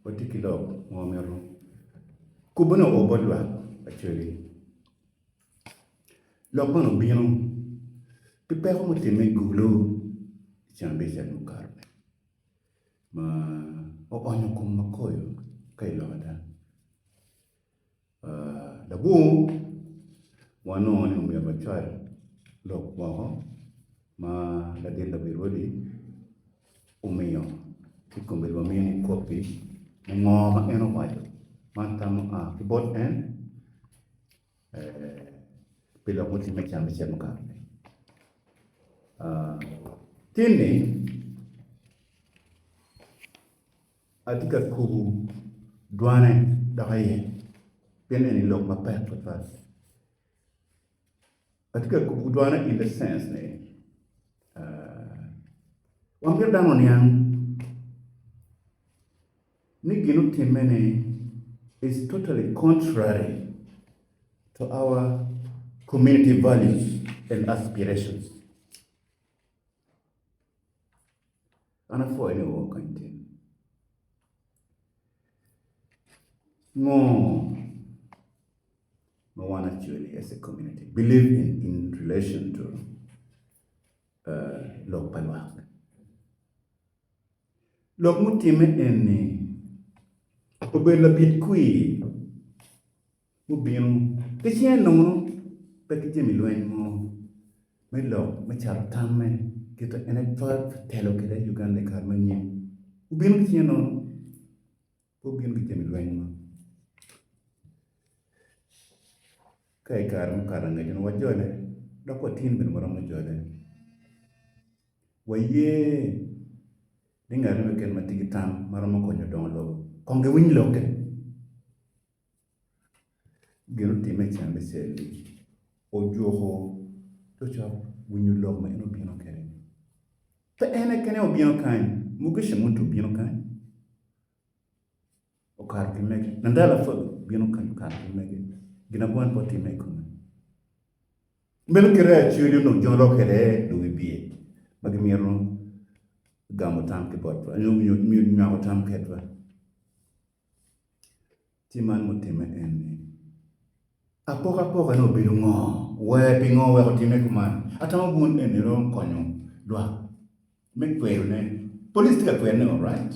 Watye ki lok ma wamito kubone o bot lwak pa cogi. Lok man obino ki peko mutimme i gulu i Cambija mukato-ni ma oonyo kom makoyo ka i lobo dago. Labongo wanongo ni omyero wacwal lok moko ma ladit labirwadi omiyo ci kombeddi wamiyo ni kopi me ngo ma en owaco man tam ma oa ki bot en pi lok mutimme i can me cel mukakatni. Tin ni Atye ka kubu dwane dok iye, pien eni lok mapek tutwal. Atye ka kubu dwane in the sense ni wan mito dano oniang ni gin otimme ni is totally contrary to our community values and aspirations. An apwoyo ni woko kany tin. Ngo ma wan actually as a community believe in in relation to uh, lok pa lwak? Lok mutimme en ni obedo labit kwir mubino ki cinge nongo pe ki jami lweny mo me lok me cato tamme kite en aye telo kwede Uganda i kare ma nyen gubino ki cinge nono pe gubino ki jami lweny mo ka i kare mukato angecci wajole dok watyen bene waromo jole waye ni ngat mo keken ma tye ki tam ma romo konyo dongo lobo kong giwiny lokke. Gin otimme i cen me cal-li, ojuko cokcok winyo lok ma en obino kwede-ni. Pe en keken aye obino kany, Mugisha Muntu obino kany okato ki mege, Nandala Faki obino kany okato ki mege, gin ango ma en pe otimme i kome? Meno kite aye Acholi onongo jolo kwede luwibye ma gimito gamo tam ki botwa nyo nywako tam kwedwa. Ci man mutimme en ni, apokapokane obedo ngo? Wee pingo wek otimme kuman? Atamo bun eni romo konyo lwak me kwedo ne. Police tye ka kwedo ne alright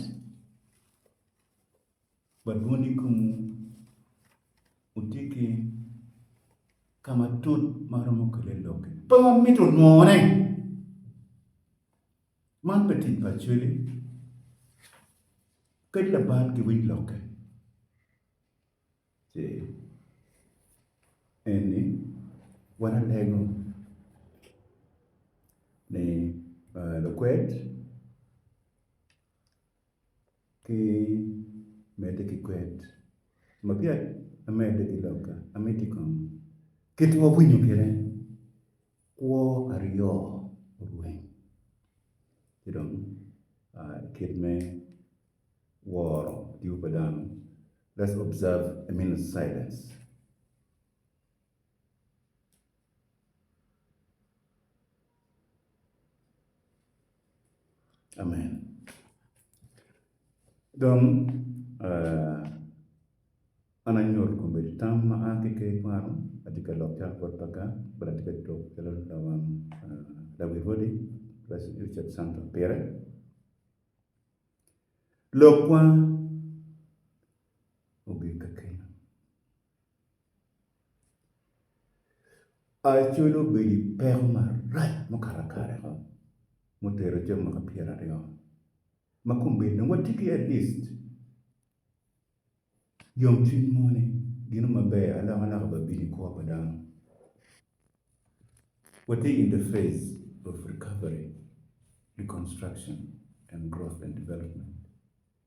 but bun ikom wu wutye ki kama tut ma romo kele lok-ki. Pe wamito nwo ne. Man pe tic pa cwele. Ped laban giwiny lokke. Ce eni wan alego ni lukwed. ki medde ki kwed. Ma peya amedde ki lok-ka, ameddi kong. Kit ma wawinyo kwede, kwo aryo orweny, ci dong kit me woro tipo pa dano. Let's observe a minute silence. Amen. Dong an anyuto kombeddi tam ma a ki Ker Twano, atye ka lok calo bot Paga, but atye ka tuk calo lawang lawi Rwodi Richard Santo Pire. Lokwa ogik kakare. Acoli obedo i peko marac mukato kare mo mutero calo mwaka pyeraryo ma kombeddi dong watye ki at least yomcwiny mo ni gino maber alokaloka bene bino i kwo pa dano. Watye in the phase of recovery, reconstruction and growth and development.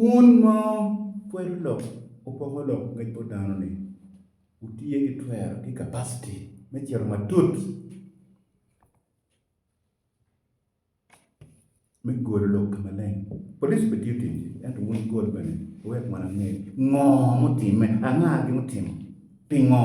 Wun ma wukwelo lok, wupoko lok ngec bot dano-ni, wutye ki twero ki capacity me cito matut me golo lok ka maleng. Police bene tiyo ticgi ento wun wugol bene wuwek wan ange ngo mutimme, anga gin mutimo, pingo?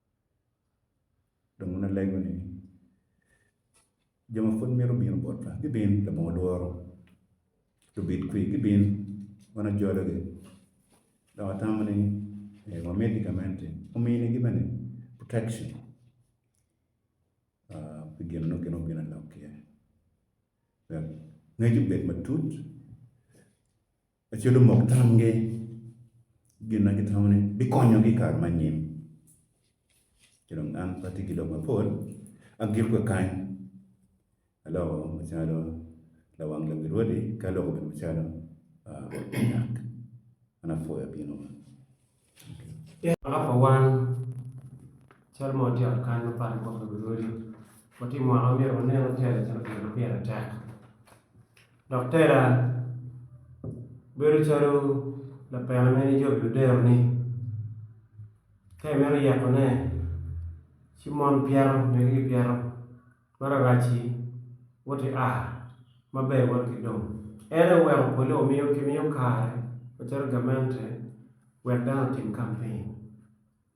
Dong wun alego ni, jo ma pud mito bino botwa gibin, labongo lworo, lubit kwi gibin, wan ajologi. Dok atamo ni wamiti gamente ominigi bene protection pi gin ma nongo gin obino lok iye wek ngecgi obed matut. Laco lumok tamgi gin ma gitamo ni bikonyogi i kare me anyim. Ci dong an pe atye ki lok mapol, agik kakany, aloko macalo lawang lobo Rwodi, ki aloko bene macalo Rwot Munyak. An apwoyo bino wa. Mwaka pa wan, calo mon tye i ot kany mapatpat i kome gurwodi, watye i mwaka ma myero wanen ni tela ocito pire ma pire tek. Dok tela bedo calo lapena ma in icobo i luderoni ka imito yekone ci mon pyeto megi gipyeto. Ma rarac-ci, woti a maber wot ki dong. En aye oweko polle wamiyo kimiyo kare macalo gamente wek dano otim kampin.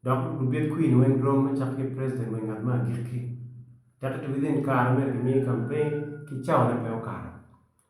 Dok lubit kwin weng rom me cako ki preciden wa i ngat me agikki. Tek-ki to within kare ma myero kimii kampin ki cawone pe okato.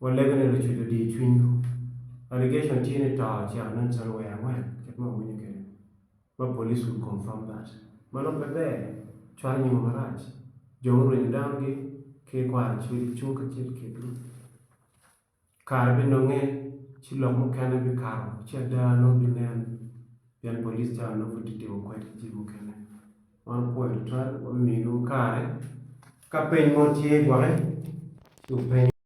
Walego ni lucuc odiyo cwinywu. Allegation tye ni to ocito ne calo wee angwen kit ma wawinyo kwede ma police should confirm that. Mano pe ber, cwalo nyingwa marac. Jo murwenyo dano gi ki i kwaro ci gicung kacel i kingi. Kare binonge ci lok mukene bikato ci ada nongo binen pien police cawa nongo pud tye timo kwed ki jami mukene. Wan wupwoyo tutwal, wabimiyo nongo kare ka peny mo tye gwoke ci wupenyo.